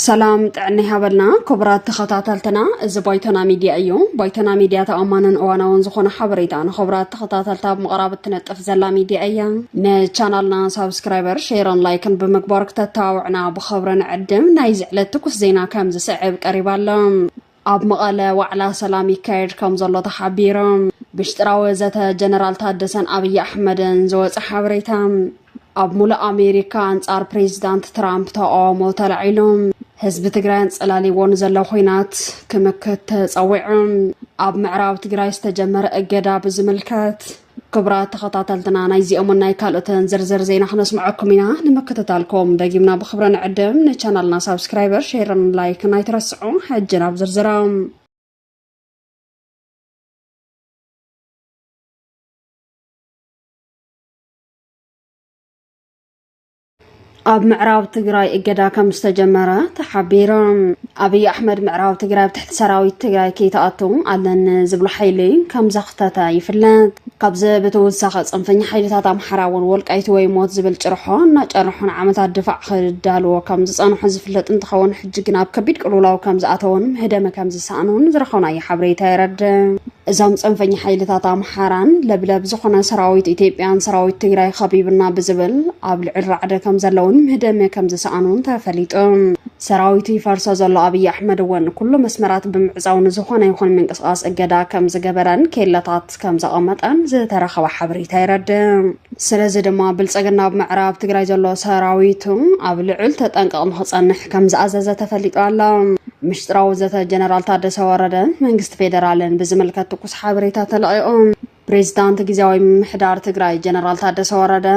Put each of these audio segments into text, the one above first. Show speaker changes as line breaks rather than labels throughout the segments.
ሰላም ጥዕና ይሃበልና ክቡራት ተኸታተልትና፣ እዚ ባይቶና ሚድያ እዩ። ባይቶና ሚድያ ተኣማንን እዋናውን ዝኾነ ሓበሬታ ንክቡራት ተኸታተልታ ኣብ ምቕራብ እትነጥፍ ዘላ ሚድያ እያ። ንቻናልና ሳብስክራይበር፣ ሼርን ላይክን ብምግባር ክተተባብዕና ኸብረ ንዕድም ናይዚ ዕለት ትኩስ ዜና ከም ዝስዕብ ቀሪቡ ኣሎ። ኣብ መቐለ ዋዕላ ሰላም ይካየድ ከም ዘሎ ተሓቢሩ። ብሽጥራዊ ዘተ ጀነራል ታደሰን ኣብይ ኣሕመድን ዝወፀ ሓበሬታ። ኣብ ሙሉእ ኣሜሪካ ኣንጻር ፕሬዚዳንት ትራምፕ ተቃውሞ ተላዒሉ። ህዝቢ ትግራይ ኣንጸላሊዎ ንዘሎ ኹናት ክምክት ተጸዊዑ። ኣብ ምዕራብ ትግራይ ዝተጀመረ እገዳ ብዝምልከት ክብራት ተኸታተልትና ናይዚኦምን ናይ ካልኦትን ዝርዝር ዜና ክነስምዐኩም ኢና ንምክትታልኩም ደጊምና ብክብረ ንዕድም ንቻናልና ሳብስክራይበር ሼርን ላይክን ኣይትረስዑ ሕጂ ናብ ዝርዝሮም ኣብ ምዕራብ ትግራይ እገዳ ከም ዝተጀመረ ተሓቢሩ ኣብይ ኣሕመድ ምዕራብ ትግራይ ኣብ ትሕቲ ሰራዊት ትግራይ ከይተኣቱ ኣለኒ ዝብሎ ሓይሊ ከም ዘኽተተ ይፍለጥ ካብዚ ብተወሳኺ ፅንፈኛ ሓይልታት ኣምሓራ እውን ወልቃይቲ ወይ ሞት ዝብል ጭርሖ እናጨርሑ ንዓመታት ድፋዕ ክዳልዎ ከም ዝፀንሑ ዝፍለጥ እንትኸውን ሕጂ ግን ኣብ ከቢድ ቅልውላው ከም ዝኣተውን ምህደመ ከም ዝሰኣኑን ዝረኸብናዮ ሓበሬታ የረድእ እዞም ፅንፈኛ ሓይልታት ኣምሓራን ለብለብ ዝኾነ ሰራዊት ኢትዮጵያን ሰራዊት ትግራይ ኸቢብና ብዝብል ኣብ ልዕል ራዕደ ከም ዘለውን ምህደመ ከም ዝሰኣኑን ተፈሊጡ ሰራዊቱ ይፈርሶ ዘሎ ኣብዪ ኣሕመድ እውን ኩሉ መስመራት ብምዕፃው ንዝኾነ ይኹን ምንቅስቓስ እገዳ ከም ዝገበረን ኬለታት ከም ዘቐመጠን ዝተረኸበ ሓበሬታ የረድእ ስለዚ ድማ ብልፅግና ኣብ ምዕራብ ትግራይ ዘሎ ሰራዊቱ ኣብ ልዑል ተጠንቀቕ ንክፀንሕ ከምዝኣዘዘ ተፈሊጡ ኣሎ። ምሽጥራዊ ዘተ ጀነራል ታደሰ ወረደን መንግስቲ ፌደራልን ብዝምልከት ትኩስ ሓበሬታ ተለቒቑ። ፕሬዚዳንት ጊዜያዊ ምምሕዳር ትግራይ ጀነራል ታደሰ ወረደ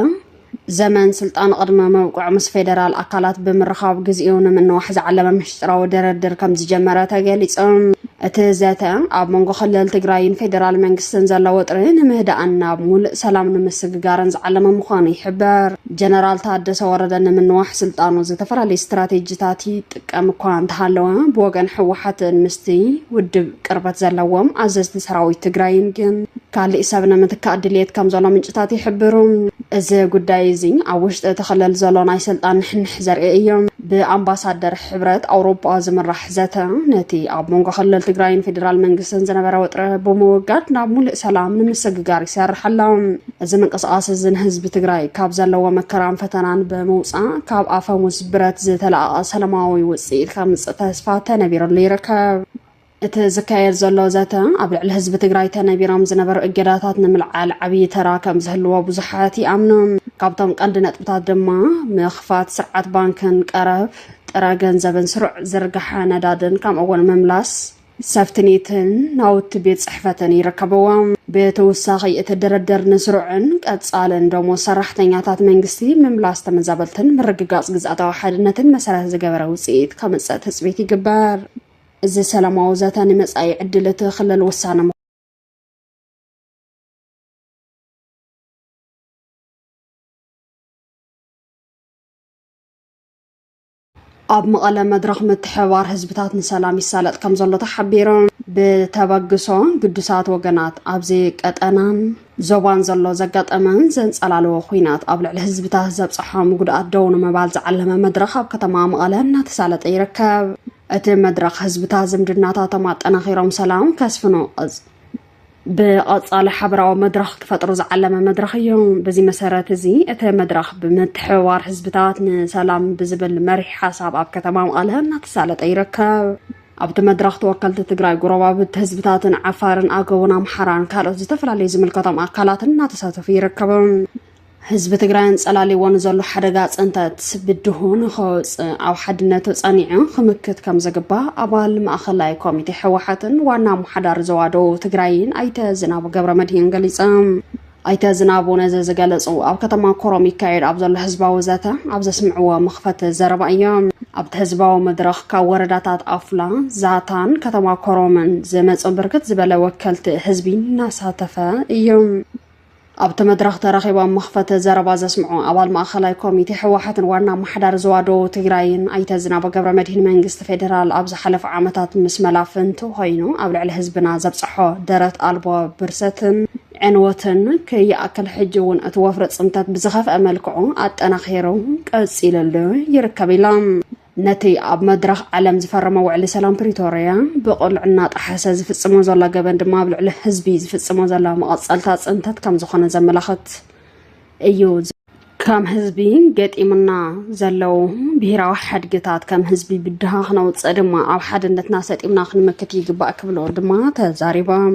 ዘመን ስልጣን ቕድመ መብቅዑ ምስ ፌደራል ኣካላት ብምርኻብ ግዚኡ ንምንዋሕ ዝዓለመ ምሽጥራዊ ድርድር ከምዝጀመረ ተገሊፁ። እቲ ዘተ ኣብ መንጎ ክልል ትግራይን ፌደራል መንግስትን ዘሎ ወጥሪ ንምህዳእን ናብ ሙሉእ ሰላም ንምስግጋርን ዝዓለመ ምዃኑ ይሕበር። ጀነራል ታደሰ ወረደ ንምንዋሕ ስልጣኑ ዝተፈላለዩ ስትራቴጂታት ይጥቀም እኳ እንተሃለወ ብወገን ህወሓትን ምስቲ ውድብ ቅርበት ዘለዎም ኣዘዝቲ ሰራዊት ትግራይን ግን ካሊእ ሰብ ንምትካእ ድልየት ከም ዘሎ ምንጭታት ይሕብሩ። እዚ ጉዳይ እዚ ኣብ ውሽጢ እቲ ክልል ዘሎ ናይ ስልጣን ንሕንሕ ዘርኢ እዩ። ብኣምባሳደር ሕብረት ኣውሮጳ ዝምራሕ ዘተ ነቲ ኣብ መንጎ ክልል ትግራይን ፌዴራል መንግስትን ዝነበረ ወጥረ ብምውጋድ ናብ ሙሉእ ሰላም ንምስግጋር ይሰርሕ ኣሎ። እዚ ምንቅስቓስ እዚ ንህዝቢ ትግራይ ካብ ዘለዎ መከራን ፈተናን ብምውፃእ ካብ ኣፈሙዝ ብረት ዝተለኣቐ ሰላማዊ ውፅኢት ከምፅእ ተስፋ ተነቢርሉ ይርከብ። እቲ ዝካየድ ዘሎ ዘተ ኣብ ልዕሊ ህዝቢ ትግራይ ተነቢሮም ዝነበሩ እገዳታት ንምልዓል ዓብዪ ተራ ከም ዝህልዎ ብዙሓት ይኣምኑ። ካብቶም ቀንዲ ነጥብታት ድማ ምኽፋት ስርዓት ባንክን ቀረብ ጥረ ገንዘብን ስሩዕ ዝርግሓ ነዳድን ከምኡ እውን ምምላስ ሰፍትኔትን ናውቲ ቤት ጽሕፈትን ይርከብዎም። ብተወሳኺ እቲ ድርድር ንስሩዕን ቀጻልን ደሞዝ ሰራሕተኛታት መንግስቲ፣ ምምላስ ተመዛበልትን ምርግጋጽ ግዝኣታዊ ሓድነትን መሰረት ዝገበረ ውጽኢት ከምጽእ ትጽቢት ይግበር። እዚ ሰላማዊ ዘተ ንመጻኢ ዕድል እቲ ክልል ውሳነ ኣብ መቐለ መድረኽ ምትሕብባር ህዝብታት ንሰላም ይሳለጥ ከም ዘሎ ተሓቢሩ ብተበግሶ ግዱሳት ወገናት ኣብዚ ቀጠናን ዞባን ዘሎ ዘጋጠመን ዘንጸላለዎ ኩናት ኣብ ልዕሊ ህዝብታት ዘብፅሖም ጉድኣት ደው ንምባል ዝዓለመ መድረኽ ኣብ ከተማ መቐለ እናተሳለጠ ይርከብ እቲ መድረኽ ህዝብታት ዝምድናታቶም ኣጠናኺሮም ሰላም ከስፍኑ ብቐጻሊ ሓበራዊ መድረኽ ክፈጥሩ ዝዓለመ መድረኽ እዩ በዚ መሰረት እዚ እቲ መድረኽ ብምትሕብባር ህዝብታት ንሰላም ብዝብል መሪሕ ሓሳብ ኣብ ከተማ መቐለ እናተሳለጠ ይርከብ ኣብቲ መድረኽ ተወከልቲ ትግራይ ጎረባብቲ ህዝብታትን ዓፋርን ኣገውን ኣምሓራን ካልኦት ዝተፈላለዩ ዝምልከቶም ኣካላትን እናተሳተፉ ይርከቡ ህዝቢ ትግራይ ኣንፀላልይዎ ንዘሎ ሓደጋ ፅንተት ብድሁ ንኸወፅእ ኣብ ሓድነቱ ፀኒዑ ክምክት ከም ዝግባእ ኣባል ማእኸላይ ኮሚቴ ህወሓትን ዋና ኣመሓዳሪ ዞባ ደቡብ ትግራይን ኣይተ ዝናቡ ገብረ መድሂን ገሊፆም። ኣይተ ዝናቡ ነዚ ዝገለፁ ኣብ ከተማ ኮረም ይካየድ ኣብ ዘሎ ህዝባዊ ዘተ ኣብ ዘስምዕዎ መኽፈቲ ዘረባ እዮም። ኣብቲ ህዝባዊ መድረኽ ካብ ወረዳታት ኣፍላ፣ ዛታን ከተማ ኮረምን ዝመፁ ብርክት ዝበለ ወከልቲ ህዝቢ እናሳተፈ እዩ። ኣብቲ መድረኽ ተረኺቦም መኽፈቲ ዘረባ ዘስምዑ ኣባል ማእኸላይ ኮሚቴ ህወሓትን ዋና ኣመሓዳሪ ዞባ ደቡብ ትግራይን ኣይተ ዝናበ ገብረ መድሂን መንግስቲ ፌዴራል ኣብ ዝሓለፉ ዓመታት ምስ መላፍንቱ ኮይኑ ኣብ ልዕሊ ህዝብና ዘብፀሖ ደረት ኣልቦ ብርሰትን ዕንወትን ከይኣክል ሕጂ እውን እቲ ወፍሪ ፅንተት ብዝኸፍአ መልክዑ ኣጠናኺሩ ቀፂልሉ ይርከብ ኢሎም። ነቲ ኣብ መድረኽ ዓለም ዝፈረመ ውዕሊ ሰላም ፕሪቶርያ ብቕሉዕ እናጠሓሰ ዝፍጽሞ ዘሎ ገበን ድማ ኣብ ልዕሊ ህዝቢ ዝፍጽሞ ዘሎ መቐጸልታ ጽንተት ከም ዝኾነ ዘመላኽት እዩ። ከም ህዝቢ ገጢሙና ዘለዉ ብሄራዊ ሓድግታት ከም ህዝቢ ብድሃ ክነውፅእ ድማ ኣብ ሓድነትና ሰጢምና ክንምክት ይግባእ ክብሉ ድማ ተዛሪቦም።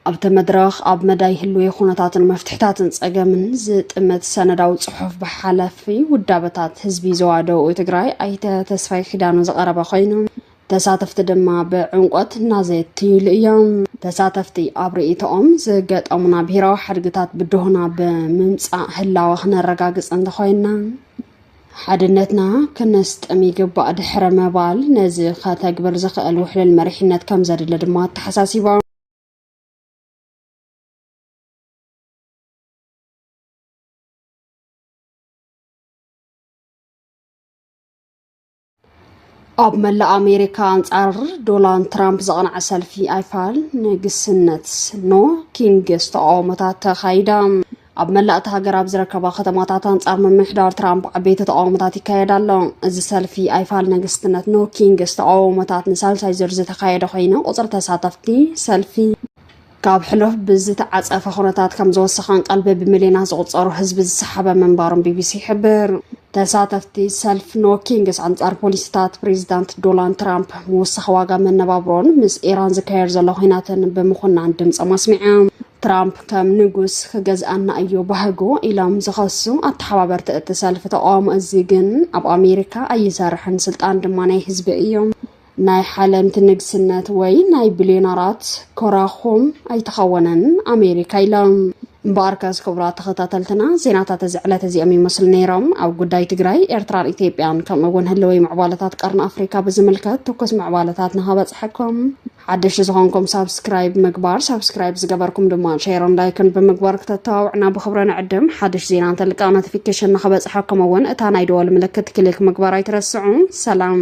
ኣብቲ መድረኽ ኣብ መዳይ ህልዊ ኩነታትን መፍትሕታትን ጸገምን ዝጥምት ሰነዳዊ ጽሑፍ ብሓላፊ ውዳበታት ህዝቢ ዞባ ደቡብ ትግራይ ኣይተ ተስፋይ ኪዳኑ ዝቐረበ ኮይኑ ተሳተፍቲ ድማ ብዕምቆት እናዘየትይሉ እዮም ተሳተፍቲ ኣብ ርእይቶኦም ዝገጠሙና ብሄራዊ ሓድግታት ብድሆና ብምምፃእ ህላወ ክነረጋግፅ እንተኮይንና ሓድነትና ክነስጥም ይግባእ ድሕረ ምባል ነዚ ከተግብር ዝኽእል ውሕልል መሪሕነት ከም ዘድለ ድማ ኣተሓሳሲቦም ኣብ መላእ ኣሜሪካ ኣንጻር ዶናልድ ትራምፕ ዘቕንዐ ሰልፊ ኣይፋል ንግስነት ኖ ኪንግስ ተቃውሞታት ተኻይዳ ኣብ መላእ እቲ ሃገር ኣብ ዝረከባ ከተማታት ኣንጻር ምምሕዳር ትራምፕ ዓበይቲ ተቃውሞታት ይካየድ ኣሎ እዚ ሰልፊ ኣይፋል ንግስትነት ኖ ኪንግስ ተቃውሞታት ንሳልሳይ ዙር ዝተካየደ ኮይኑ ቁፅሪ ተሳተፍቲ ሰልፊ ካብ ሕሉፍ ብዝተዓፀፈ ኩነታት ከም ዝወሰኻን ቀልቢ ብሚልዮናት ዝቁፀሩ ህዝቢ ዝሰሓበ ምንባሩን ቢቢሲ ይሕብር ተሳተፍቲ ሰልፍ ኖ ኪንግስ ኣንጻር ፖሊሲታት ፕሬዚዳንት ዶናልድ ትራምፕ ምውሳኽ ዋጋ መነባብሮን ምስ ኢራን ዝካየድ ዘሎ ኩናትን ብምኹናን ድምፆም ኣስሚዖም ትራምፕ ከም ንጉስ ክገዝኣና እዩ ባህጉ ኢሎም ዝኸሱ ኣተሓባበርቲ እቲ ሰልፊ ተቃውሞ እዚ ግን ኣብ ኣሜሪካ ኣይሰርሕን፣ ስልጣን ድማ ናይ ህዝቢ እዩ፣ ናይ ሓለምቲ ንግስነት ወይ ናይ ቢልዮነራት ኮራኹም ኣይተኸወነን ኣሜሪካ ኢሎም። እምበኣር ከስ ክቡራት ተኸታተልትና ዜናታት እዚ ዕለት እዚኦም ይመስሉ ነይሮም ኣብ ጉዳይ ትግራይ ኤርትራን ኢትዮጵያን ከምኡ እውን ህልወይ ምዕባለታት ቀርኒ ኣፍሪካ ብዝምልከት ትኩስ ምዕባለታት ንኸበፅሐኩም ሓደሽቲ ዝኾንኩም ሳብስክራይብ ምግባር ሳብስክራይብ ዝገበርኩም ድማ ሼርን ላይክን ብምግባር ክተተባብዕና ብክብረ ንዕድም ሓድሽ ዜና እንተልቃ ኖቲፊኬሽን ንክበፅሐኩም እውን እታ ናይ ደወል ምልክት ክሊክ ምግባር ኣይትረስዑ ሰላም